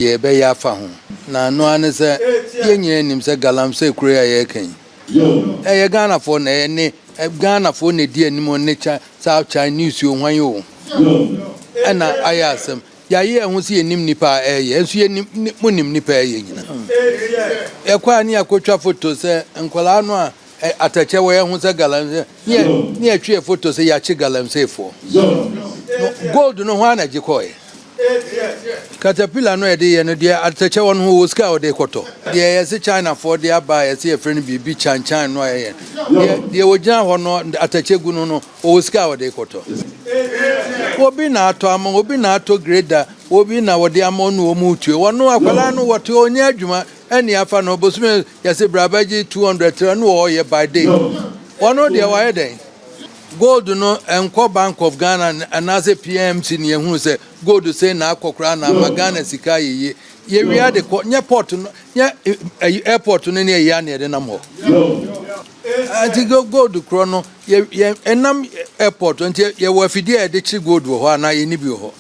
deɛ yɛbɛyɛ afa ho, na ɛno ara ne sɛ yɛn nyinaa nim sɛ Galamsey kuro yi a yɛreka yi, ɛyɛ Ghanafoɔ na ɛyɛ ne Ghanafoɔ na ɛdi anim o, ne South Chinese o, hwan o, ɛna ayɛ asɛm. Yɛayɛ yɛn ho sɛ yɛnim nnipa a ɛreyɛ, ɛnso yɛnim, monim nnipa a ɛreyɛ nyinaa. Yɛkɔ a ne yɛakɔtwa foto sɛ nkwadaa no a Ɛ atɛkyɛ wɔ yɛ ho sɛ galamsey ne yɛ ne yɛ twe yɛ foto sɛ yɛakye galamsey foɔ no gold no hwan na gye kɔɔɛ caterpillar no a yɛde yɛ no deɛ atɛkyɛ wɔ no ho wɔ sika a wɔde kɔtɔ deɛ yɛse China foɔ de aba a yɛse yɛfrɛ no biribi kyan kyan no a yɛyɛ deɛ deɛ wɔgyina hɔ no atɛkyɛ gu no no wɔwɔ sika a wɔde kɔtɔ obi na atɔ ama obi na atɔ greda obi na wɔde ama ɔno wɔn retue wɔn akwadaa no wɔte ɔnyɛ adwuma ɛne afa no bosome Yɛse bra bɛgye two hundred tra no wɔ hɔ yɛ by day wɔ no deɛ wayɛ dɛn gold no nkɔ bank of Ghana anaasɛ PMC ne yɛhunu sɛ gold sei na akɔ koraa na ama Ghana sika ayɛ yie yɛwie ade kɔ nyɛ port no nyɛ ayi airport no ne ayi a na yɛde nam hɔ nti gold korɔ no yɛ yɛ ɛnam airport nti yɛwɔ afidie a yɛde kye gold wɔ hɔ anaa yɛni bi wɔ hɔ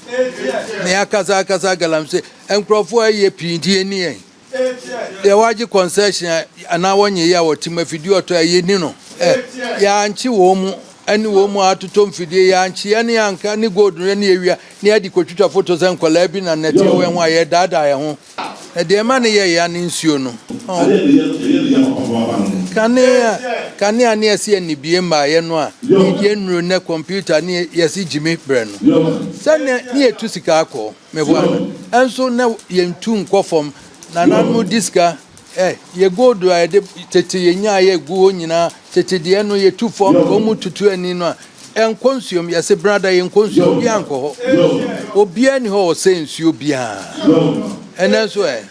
na yɛakasa akasa galamsey nkurɔfoɔ ayɛ pii nti yɛni yɛn. Deɛ wagye concession anaa wɔnyɛ yi a wɔte mu afidie ɔtɔ a yɛni no ɛ yɛankye wɔn mu ɛne wɔn mu atotɔ mfidie yɛankye yɛne yɛanka ne gold no yɛne yɛwia ne yɛde kɔtwitwa foto sɛ nkɔlaa bi na nnɛte wɔ yɛn ho a yɛdaadaa yɛn ho na deɛ ɛma ne yɛ ya ne nsuo no kanea kanea ne yɛse yɛnnibie mmaa yɛ no a yɛnnuro nɛ computer ne yɛse gyimi brɛ no sɛ ne yɛtu sika akɔ Meboa no nso na yɛntu nkɔ fam. Nananom di sika. Ɛ, yɛ gold a yɛde tete yɛnya a yɛgu hɔ nyinaa, tete deɛ no, yɛtu fam, wɔn mu tutu ani no a, ɛnkɔ nsuom. Yɛse, Brada, yɛnkɔ nsuom. Obiara nkɔ hɔ. Obiara nni hɔ a ɔsɛ nsuo biara. Ɛnnɛ nso ɛ?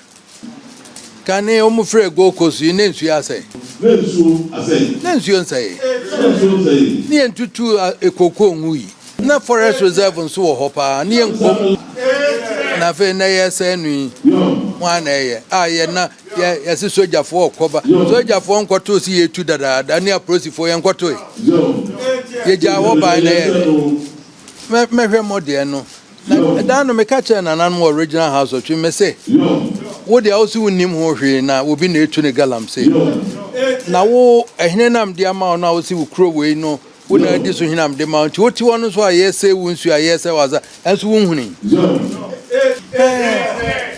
Kane wɔn frɛɛ Gold Coast yi na nsuo asɛe. Na nsuo asɛe. Na nsuo nsɛe. Na nsuo nsɛe. Ne yɛn tutu kookoo nwui. Na forest reserve nso wɔ hɔ paa ne yɛn nkom. Na afei na yɛ sɛe no yi hwan na ɛyɛ a yɛ na yɛ yɛsi sogyafoɔ ɔkɔba sogyafoɔ nkɔto si yɛ tu dadaada ne aprosifoɔ yɛn nkɔtoe yɛ gyaa hɔ ban na yɛ mɛ mɛhwɛ mo deɛ no Na da no meka kyerɛɛ nananom wɔ Regional House of Church mese, Wo deɛ wose wonnim ho hwee na obi na etu no galamsey. Na wo, ɛhene na mede ama wo no a wose wo kuro wei no wo na adi so hene a mede ma wo nti wote hɔ no nso a yɛresɛe wo nsuo a yɛresɛe w'asa nso wonhunii?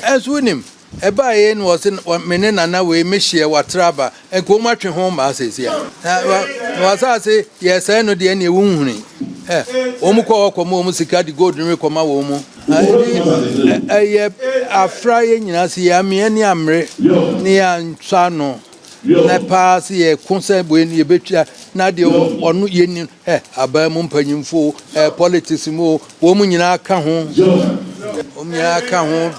Ɛnso wonim? Ɛbaeɛ na ɔse me ne nana wei me hyeɛ watra aba nka ɔmu atwe ho maa sɛsi a na wasase yɛ sɛe no deɛ neɛ wonhuni ɛ ɔmu kɔ hɔ kɔma ɔmu sika de gold no me kɔma wɔ ɔmu ɛyɛ afra yɛ nyinaa se yɛ ameɛ ne amere ne yɛ ansɔ ano na paa se yɛ ko sɛ wei no yɛbɛtwa na deɛ ɔno yɛ ni ɛ abaa mu mpanyimfo ɛ politics mu ɔmu nyinaa ka ho ɔmu nyinaa ka ho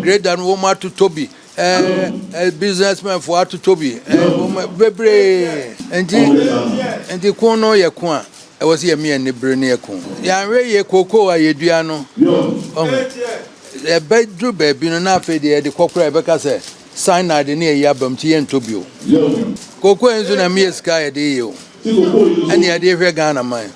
Grader no wɔn atotɔ bi ɛɛ businessmen fo atotɔ bi ɛɛ wɔn bebree nti nti kun no yɛ kun a ɛwɔ sɛ yɛmi yɛn bere ne yɛ kun yɛanwɛ yɛ koko a yɛdua no ɔho ɛbɛduru baabi no na afei deɛ yɛde kɔkora yɛbɛka sɛ cyanide ne ɛyi abam ti yɛntɔ bi o koko nso na mi yɛ sika yɛde yɛ o ɛne yɛde hwɛ Ghana man.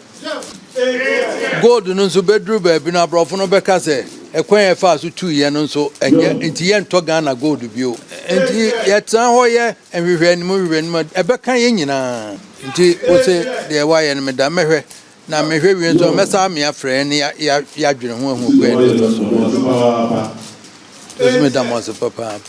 Gold no nso bɛduru baabi no aborɔfo no bɛka sɛ ɛkwan a ɛfaa so tuiɛ no nso ɛnyɛ nti yɛntɔ Ghana gold bio. Nti yɛtena hɔ yɛ nhwehwɛanim nhwehwɛanim a ɛbɛka yɛn nyinaa. Nti wose deɛ woayɛ no meda mɛhwɛ na mehwɛ wie nso a mɛsa amea frɛ yɛn ne yɛadwene ho ahu kwan a ɛbɛfa so. Nso meda mo ase papaapa.